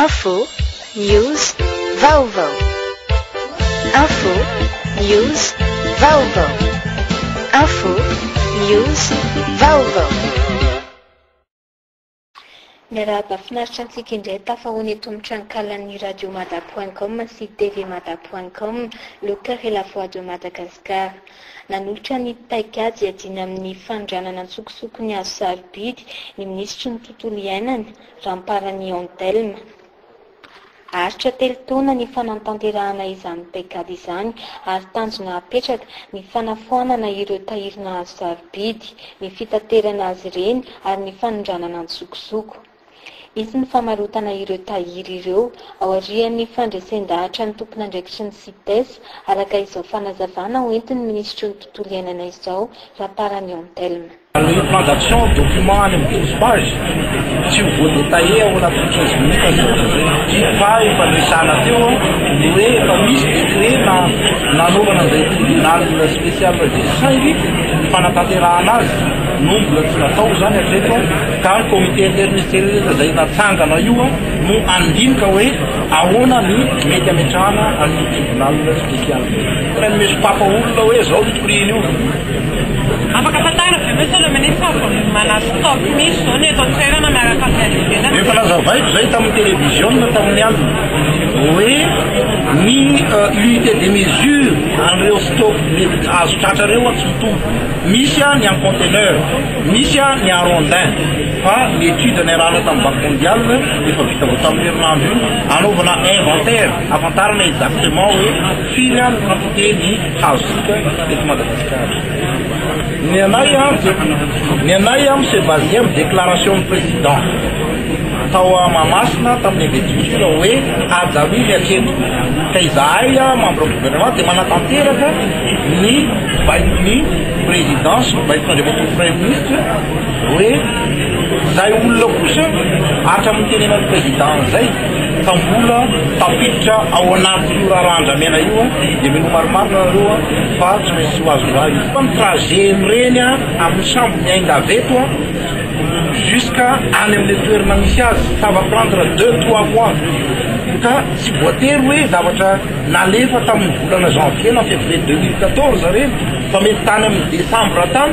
Info, news, vaovao. Info, news, vaovao. Info, news, vaovao. Miarahaba finaritra antsika indray tafahoana eto amin'ny tranonkalan'ny radio mada point com sy tv mada point com le cœur et la voix de Madagascar. Nanolotra ny paikady hiadiana amin'ny fanondranana an-tsokosoko ny hazo sarobidy ny minisitry ny tontolo iainana, Ramparani Antelme. Aharitra telo taona ny fanantanterahana izany Pecad izany ary tanjona hapetraka ny fanafoanana ireo tahiry nahazo sarobidy, ny fitaterana azy ireny ary ny fanondranana an-tsokosoko. Hisy ny famarotana ireo tahiry ireo aorian'ny fandresen-dahatra ny tompon'andraikitry ny Cites, araka izao fanazavana hoentin'ny minisitry ny Tontolo iainana izao, Ramparani Antelme. Ny plan d'action, document any amin'ny douze pages, tsy ho voa-detailler ao anatin'ny quinze minutes ny zavatra izay. Dimy pages efa niresahana teo ny hoe efa misy décret na nanaovana an'izay tribunal spécial izay saingy ny fanatanterahana azy no mbola tsy natao izany hatreto ka ny comité interministériel izay natsangana io no handinika hoe ahoana ny mety hametrahana an'io tribunal spécial io. Tsy maintsy misompapa olona hoe izao ny prix-ny io. Afaka tantarina ve ve sao le ministra vao mana stop misy zao ny eto an-toerana miaraka amin'ny any ivelany? Efa nazavaiko izay tamin'ny televiziona tamin'ny alina hoe ny unité de mesure an'ireo stop mety azo tratra ireo tsy mitovy. Misy ny en conteneur, misy ny en rondin fa ny étude niarahana tamin'ny Banque mondiale efa vita vao tamin'io herinandro io hanaovana inventaire hahafantarana exactement hoe firy ary ny quantité ny azontsika eto Madagasikara. Ny anay an, ny anay an c'est basé amin'ny déclaration ny président tao à Mahamasina tamin'ny investiture hoe haja mily hatreto. Ka izahay an membre du gouvernement dia manatanteraka ny baikon'ny président sy ny baikon'Andriamatoa Premier Ministre hoe izay olona kosa hatramin'ny nitenenan'ny président an'izay Fa mbola tafiditra ao anatin'io raharaha andramena io dia mino maromaro nareo fa tsy maintsy tsy ho azo rà io. Fa ny trajet mireny amin'ny sambo miainga avy eto jusqu'à any amin'ilay toerana misy azy ça va prendre deux trois mois ka tsy voatery hoe zavatra nalefa tamin'ny volana janvier na février deux mille quatorze ireny fa mety tany amin'ny décembre tany.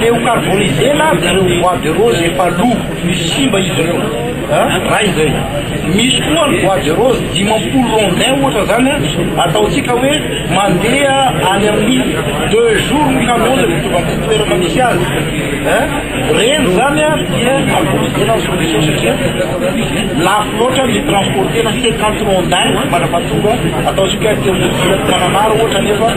Leo carboniser na dia ireo bois de rose efa lo no simba izy ireo an! Iray izay. Misy koa ny bois de rose dimampolo rondins ohatra izany an, ataontsika hoe mandeha any amin'ny deux jours ny camion izay mitovy amin'ity toerana misy azy an! Ireny izany an dia carboniser ny solution satria lafo loatra ny mi-transporter-na cinquante rondins mandrapahatonga, ataontsika hoe telo ora mananara ohatra anefa.